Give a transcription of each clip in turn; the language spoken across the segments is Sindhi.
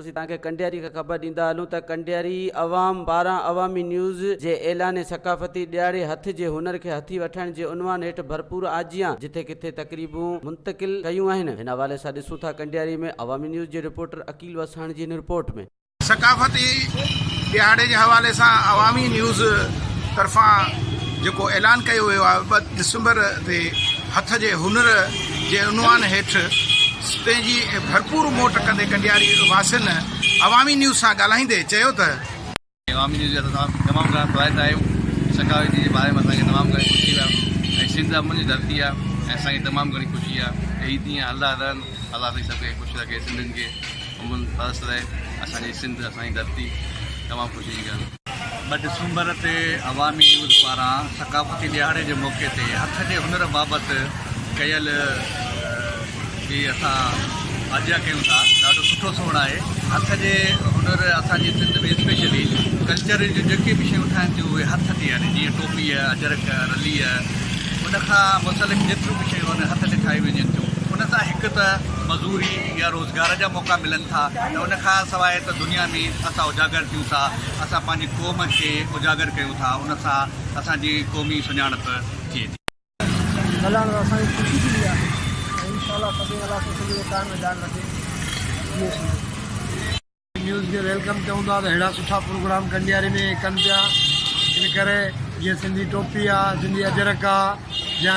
اسين توهان کي ڪنڊياري کان خبر ڏيندا هلون ته ڪنڊياري عوام باران عوامي نيوز جي اعلاني ثقافتي ڏيهاڙي هٿ جي هنر کي هٿي وٺڻ جي عنوان هيٺ ڀرپور آجيان جتي ڪٿي تقريبون منتقل ڪيون آهن هن حوالي سان ڏسون ٿا ڪنڊياري ۾ عوامي نيوز جي رپورٽر عقيل وساڻ جي هن رپورٽ ۾. ثقافتي ڏيهاڙي جي حوالي سان عوامي نيوز طرفان جيڪو اعلان ڪيو ويو آهي ٻه ڊسمبر تي هٿ جي هنر جي عنوان هيٺ پنهنجي ڀرپور موٽ ڪندي ڪنڊياري واسين عوامي نيوز سان ڳالهائيندي چيو ته. عوامي نيوز جي هٿ سان تمام گهڻا فوائد آهيون سخاوتي جي باري ۾ اسان کي تمام گهڻي خوشي آهي ۽ سنڌ امن جي ڌرتي آهي ۽ اسان کي تمام گهڻي خوشي آهي ته هي ڏينهن هلندا رهن الله سائين سڀ کي خوش رکي سنڌين کي امن پرست رهي اسان جي سنڌ اسان جي ڌرتي تمام خوشي جي ڳالهه. ٻه ڊسمبر تي عوامي نيوز پاران ثقافتي ڏهاڙي جي موقعي تي هٿ جي هنر بابت ڪيل جي اسان آجيان ڪيون ٿا ڏاڍو سٺو سوڻ آهي هٿ جي هنر اسان جي سنڌ ۾ اسپيشلي ڪلچر جون جيڪي به شيون ٺاهن ٿيون اهي هٿ تي يعني جيئن ٽوپي اجرڪ رلي ان کان متعلق جيتريون به شيون آهن هٿ تي ٺاهي ويجن ٿيون ان سان هڪ ته مزوري يا روز گهر جا موقعا ملن ٿا ته ان کان سواء ته دنيا ۾ اسان اجاگر ٿيون ٿا اسان پنهنجي قوم کي اجاگر ڪيون ٿا ان سان اسان جي قومي سڃاڻپ ٿئي ٿي. ملڻ ۾ اسان کي خوشي ٿيندي آهي ۽ انشاء الله سڀيئي الله سان سندن جي قائم ۽ دائم رکي جيئي سنڌ. نيوز کي ويلڪم ڪيون ٿا ته اهڙا سٺا پروگرام ڪنڊياري ۾ ڪن پيا ان ڪري جيئن سنڌي ٽوپي آهي سنڌي اجرڪ آهي يا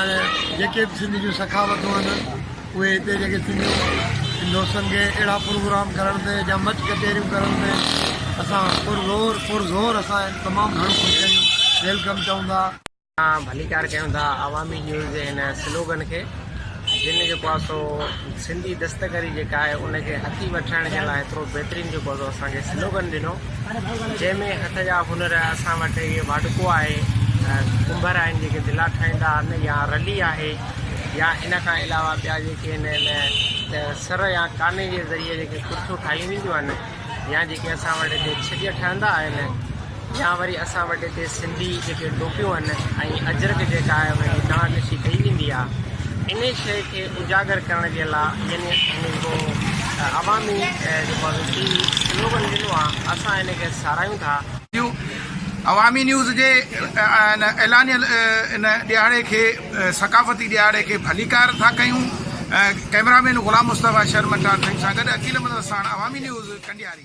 جيڪي بھ سنڌي جون سخاوتون آهن اهي هتي جيڪي سنڌيون دوستن کي اهڙا پروگرام ڪرڻ تي يا مچ ڪچهريون ڪرڻ تي اسان پر زور پر زور اسان تمام گھڻو خوش آهيون ويلڪم چئون ٿا اسان ڀليڪار ڪيون ٿا عوامي نيوز جي هن سلوگن کي جن جيڪو آهي سو سنڌي دستڪري جيڪا آهي ان کي هٿي وٺرائڻ جي لاء ايترو بهترين جيڪو آهي سو اسان کي سلوگن ڏنو جنهن ۾ هٿ جا هنر اسان وٽ اهي واڍڪو آهي ڪنڀر آهن جيڪي دلا ٺاهيندا آهن يا رلي آهي يا ان کان علاوه ٻيا جيڪي آهن سر يا ڪاني جي ذريعي جيڪي ڪرتيون ٺاهيون وينديون آهن يا جيڪي اسان وٽ هتي ڇڄ ٺهندا آهن يا وري اسان وٽ هتي سنڌي جيڪي ٽوپيون آهن ۽ اجرڪ جيڪا آهي ان جي دانهن ڏسي ڪئي ويندي آهي ان شيء کي اجاگر ڪرڻ جي لاء يعني جيڪو عوامي جيڪو ٽي وي سلوگن ڏنو آهي اسان ان کي ساراهيون ٿا. عوامي نيوز جي ان اعلانيه ان ڏهاڙي کي ثقافتي ڏهاڙي کي ڀليڪار ٿا ڪيون. ڪئميرا مين غلام مصطفيٰ شھر مٽار سنگھ سان گڏ عقيل مدد ساڻ عوامي نيوز ڪنڊياري.